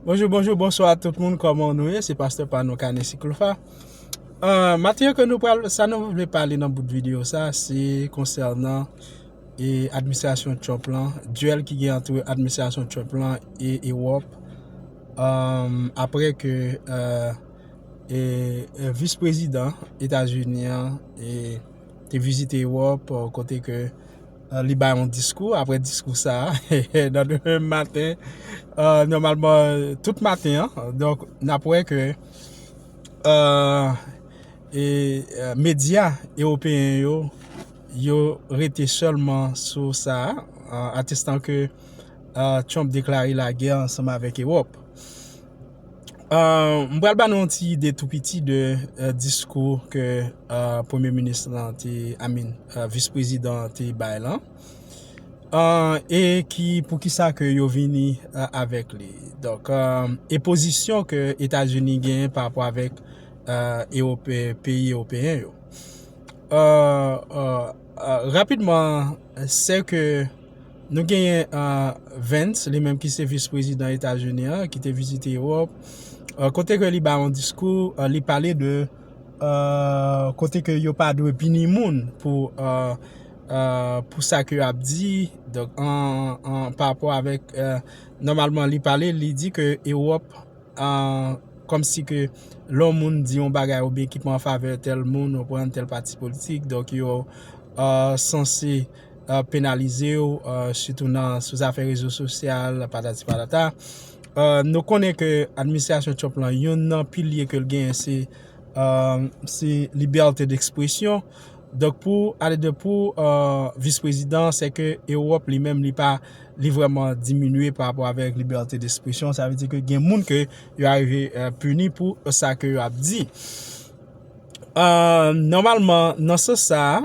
Bonjou, bonjou, bonswa a tout moun, kòman nou ye, se pastè pa nou kane si klofa. Maten yo ke nou pral, sa nou vle pale nan bout videyo sa, se konsènan e administrasyon Trump lan, duel ki gen antre administrasyon Trump lan e Ewòp, apre ke e vis prezidan Etazini an, e te vizite Ewòp, kote ke. Li bay yon diskou, apre diskou sa a, nan demen maten, nòmalman tout maten an, donk n ap wè ke medya ewopeyen yo, yo rete sèlman sou sa a, atestan ke Trump deklare lagè ansanm avèk Ewòp. M pral ba nou yon ti ide tou piti de diskou ke premye minis lan te, I mean, vis prezidan an te bay lan e ki, pou ki sa ke yo vini avèk li. Donk, e pozisyon ke Etazini genyen pa rapò avèk ewope, peyi ewopeyen yo. Rapidman, se ke Nou genyen Vance, li menm ki se vis prezidan Etazini an, ki te vizite Ewòp, kote ke li bay yon diskou, li pale de kote ke yo pa dwe pini moun pou sa ke yo ap di, donk an pa rapò avèk, nòmalman li pale, li di ke Ewòp, kòm si ke lè yon moun di yon bagay oubyen ki pa an favè tèl moun, ou pran tèl pati politik, donk yo sanse. penalize w, sitou nan sou zafè rezo sosyal, patati patata. Nou konnen ke administrasyon Trump lan, youn nan pilye ke l genyen se, se libète dekspresyon. Donk pou ale de pou vis prezidan, se ke Ewòp li menm li pa, li vreman diminye pa rapò avèk libète dekspresyon. Sa vle di ke gen moun ke yo arive pini pou sa ke yo ap di. Nòmalman nan sans sa a.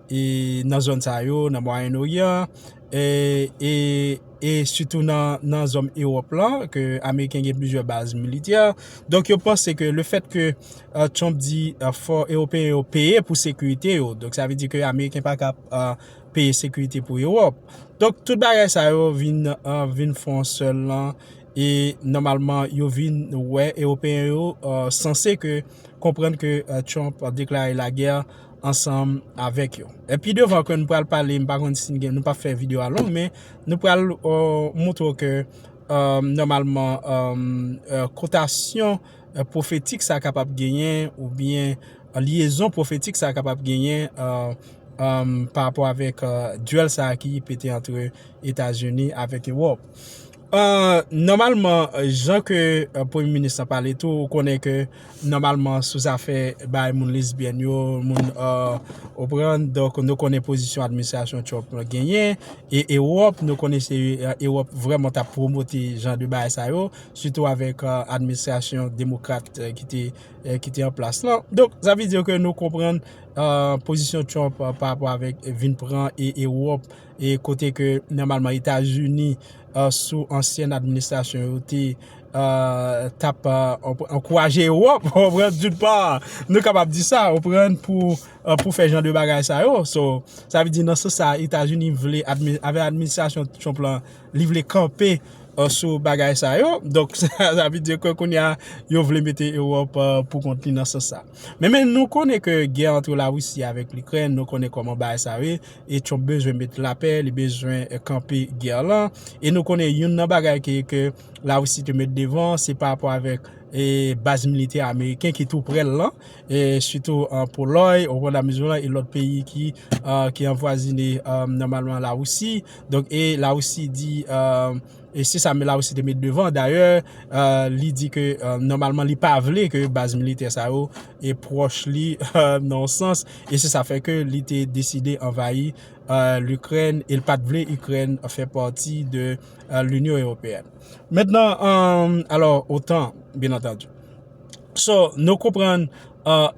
nan zòn sa yo, nan Mwayen Oryan, e sitou nan zòn Ewòp lan, ke Ameriken gen plizyè baz militè. Donk yo panse ke le fèt ke Trump di fò Ewopeyen yo peye pou sekirite yo, donk sa vle di ke Ameriken pa ka peye sekirite pou Ewòp. Donk tout bagay sa yo vin fon yon sèl lan, e nòmalman yo vin wè Ewopeyen yo sanse ke konprann ke Trump deklare lagè. ansanm avèk yo. E pi devan ke nou pral pale, m pa konn si n gen, nou pa fè video a long, men nou pral moutre w ke nòmalman kotasyon profetik sa kapab genyen ou byen lyezon profetik sa kapab genyen pa rapò avèk duel sa ki pete antre Etazini avèk Ewòp. Nòmalman jan ke premye minis la pale tou ou konnen ke nòmalman sou zafè bay moun lesbyèn yo moun ou pran donk nou konnen pozisyon administrasyon Trump lan genyen e Ewòp nou konnen se Ewòp vrèman ta pwomote jan de bagay sa yo sitou avèk administrasyon demokrat ki te an plas lan donk sa vle di ke nou konprann pozisyon Trump pa rapò avèk vin pran Ewòp e kote ke nòmalman Etazini sou ansyen administrasyon yo te t ap ankouraje Ewòp, ou konprann, doun part, nou kapab di sa, ou konprann, pou fè jan de bagay sa yo. So, sa vle di nan sans sa a Etazini vle, avèk administrasyon Trump lan, li vle kanpe sou bagay sa yo. Donk, sa vle di ke kounye a, yo vle mete Ewòp pou kont li nan sans sa a. Men, men nou konnen ke gè antre Larisi avèk Likrèn, nou konnen kòman bagay sa yo ye. E Trump bezwen met lapè, li bezwen kanpe gè lan. E nou konnen youn nan bagay ke la Russie te met devan, se pa rapò avèk baz militè ameriken ki tou prè l lan, sitou an Polòy, o Rwanda Mizoran e lòt peyi ki anvwazine nòmalman la Russie. Donk e la Russie di... E se sa Melaois te met devan. Dayè, li di ke nòmalman li pa vle ke baz militè sa yo pwòch li nan yon sans. E se sa fè ke li te deside anvayi Likrèn e li pa te vle Ikrèn fè pati de Linyon Ewopeyèn. Mentnan, alò, otan, byenantandi. So, nou konprann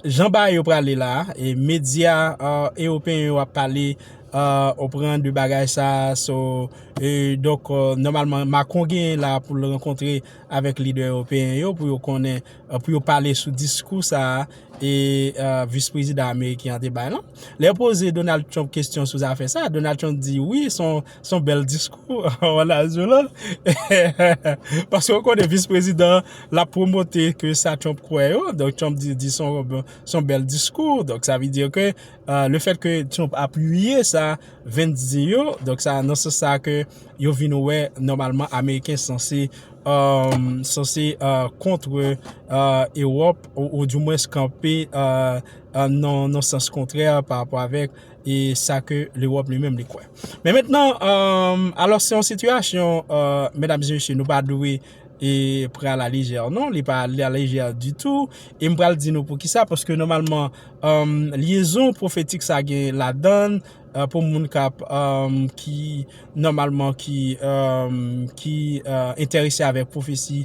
jan bagay yo prale la, e medya ewopeyen yo ap pale, ou konprann, de bagay sa a, so, e donk, nòmalman, Macron genyen la pou l rankontre avèk lidè ewopeyen yo pou yo konnen, pou yo pale sou diskou sa a, e vis prezidan ameriken an te bay lan. Lè yo poze Donald Trump kesyon sou zafè sa a, Donald Trump di wi, son. Son bèl diskou Wa Nazon lan. Paske ou konnen vis prezidan lap promote ke sa Trump kwè yo. Donk Trump di son bèl diskou. Donk sa vle di ke le fèt ke Trump apiye sa Vance di yo. Donk sa nan sans sa ke yo vin wè nòmalman ameriken sanse sanse kontre Ewòp ou di mwens kanpe nan sans kontrè pa rapò avèk e sa ke lewòp li menm li kwè. Men mentnan, alò se yon sitiyasyon, medam e mesye, nou pa dwe pre a la lejè non, li pa ale a la lejè ditou, e m pral di nou pou ki sa, paske nòmalman, lyezon pwofetik sa gen ladann, pou moun kap, ki nòmalman, ki entèrese avèk pwofesi,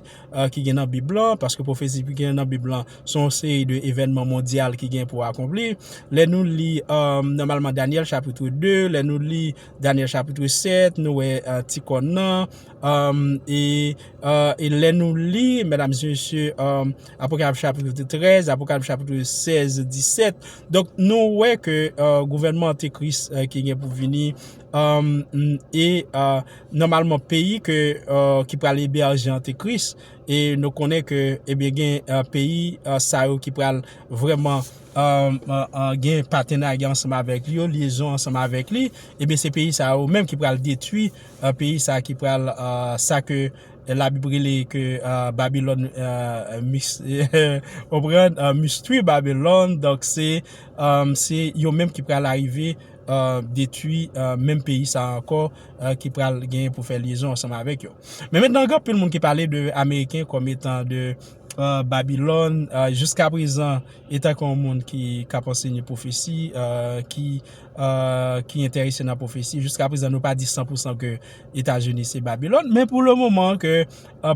ki gen nan bib lan, paske pwofesi ki gen nan bib lan se yon seri de evènman mondyal ki gen pou akonpli, lè nou li nòmalman Danyèl chapitre 2, lè nou li Danyèl chapitre 7 nou wè ti kòn nan e lè nou li medam e mesye Apokalip chapitre 13, Apokalip chapitre 16, 17 donk nou wè ke gouvènman antikris ki gen pou vini. E nòmalman peyi ke ki pral eberje antikris e nou konnen ke ebyen gen peyi sa yo ki pral vrèman gen patenarya ansanm avèk li yo, lyezon ansanm avèk li, ebyen se peyi sa yo menm ki pral detwi peyi sa ki pral sa ke labib rele ke babilòn konprann mistwi babilòn donk se yo menm ki pral arive detwi menm peyi sa ankò ki pral genyen pou fè lyezon ansanm avèk yo. Men mentnan gen anpil moun ki pale de Ameriken kòm etan de Babilòn, jiska prezan etan ke yon moun ki kap ansenye pwofesi, ki enterese nan pwofesi, jiska prezan nou pa di san pou san ke Etazini se Babilòn, men pou le moman ke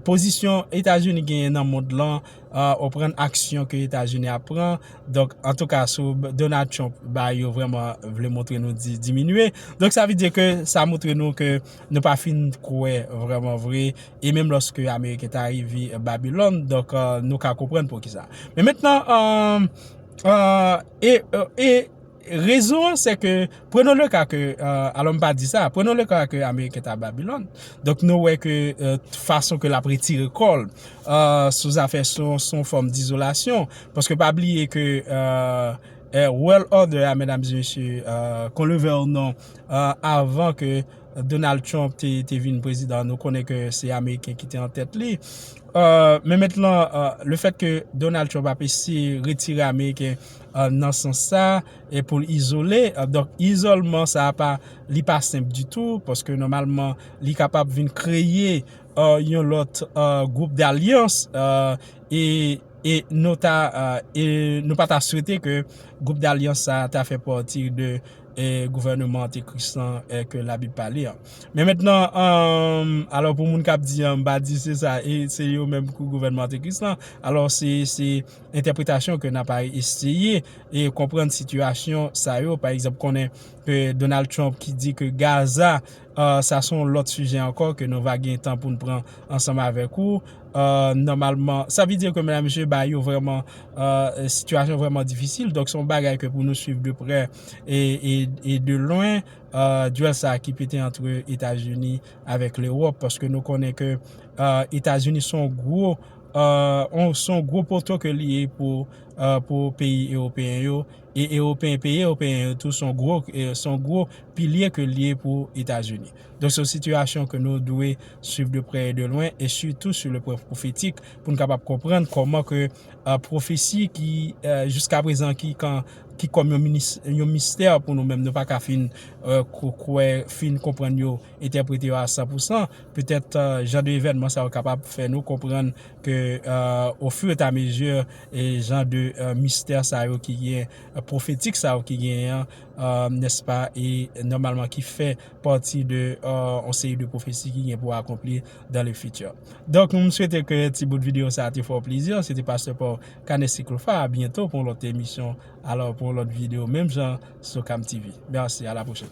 pozisyon Etazini genyen nan mond lan, ou prann aksyon ke etazini ap pran donk antouka sou Donald Trump ba yo vreman vle montre nou di diminye donk sa vle di ke sa montre nou ke nou pa fin kwe vreman vre e menm loske ameriken ta rive babilon donk nou ka konprann poukisa men mentnan an an e e Rezon an se ke, prenons le cas ke, alò m pa di sa, prenons le cas ke Ameriken ta Babilòn, donk nou wè ke fason ke l ap retire kò l sou zafè se yon fòm dizolasyon, paske pa bliye ke World Order a medam e mesye, kon le vè ou non, avan ke Donald Trump te vin prezidan nou konnen ke se Ameriken ki te an tèt li. Men mentnan, le fèt ke Donald Trump ap eseye retire Ameriken, nan sans sa e pou l izole donk izolman sa pa li pa senp ditou paske nòmalman li kapab vin kreye yon lòt gwoup dalyans e nou ta e nou pa ta swete ke gwoup dalyans sa ta fè pati de gouvèneman antekris lan ke labib pale an men mètnan alò pou moun k ap di an m pa di se sa e se yo menm ki gouvèneman antekris lan alò se entèpretasyon ke nan pa eseye e konprann sitiyasyon sa yo, pa egzanp konnen ke Donald Trump ki di ke Gaza sa son lòt sijè ankò ke nou va gen tan pou nou pran ansanm avèk ou nòmalman, sa vle di ke medam mesye ba yo vrèman sitiyasyon vrèman difisil, donk son bagay ke pou nou swiv de prè e de lwen duel sa ki pete antre Etazini avèk Lewòp, paske nou konnen ke Etazini son gwo. se yon gwo poto ke li ye pou peyi ewopeyen yo, e peyi ewopeyen yo tou se yon gwo pilye ke li ye pou Etazini. Donk se yon sitiyasyon ke nou dwe swiv de prè e de lwen, e sitou sou le pwen pwofetik, pou nou kapab konprann kòman ke pwofesi ki jiska prezan ki kòm yon mistè pou nou menm, nou pa ka fin kwè, fin konprann yo, entèprete yo a san pou san, Petèt jan de evènman sa yo kapab fè nou konprann ke o fur et à mesure jan de mistè sa yo ki gen, pwofetik sa yo ki genyen an, nèspa, e nòmalman ki fè pati de yon seri de pwofesi ki gen pou akonpli dans le futur. Donk m swete ke ti bout videyo sa a te fè w plezi. Se te pastè pa w Cannes Siklofa. A byento pou yon lòt emisyon alò pou yon lòt videyo menm jan sou Cam TV. Mèsi, a la pwochèn.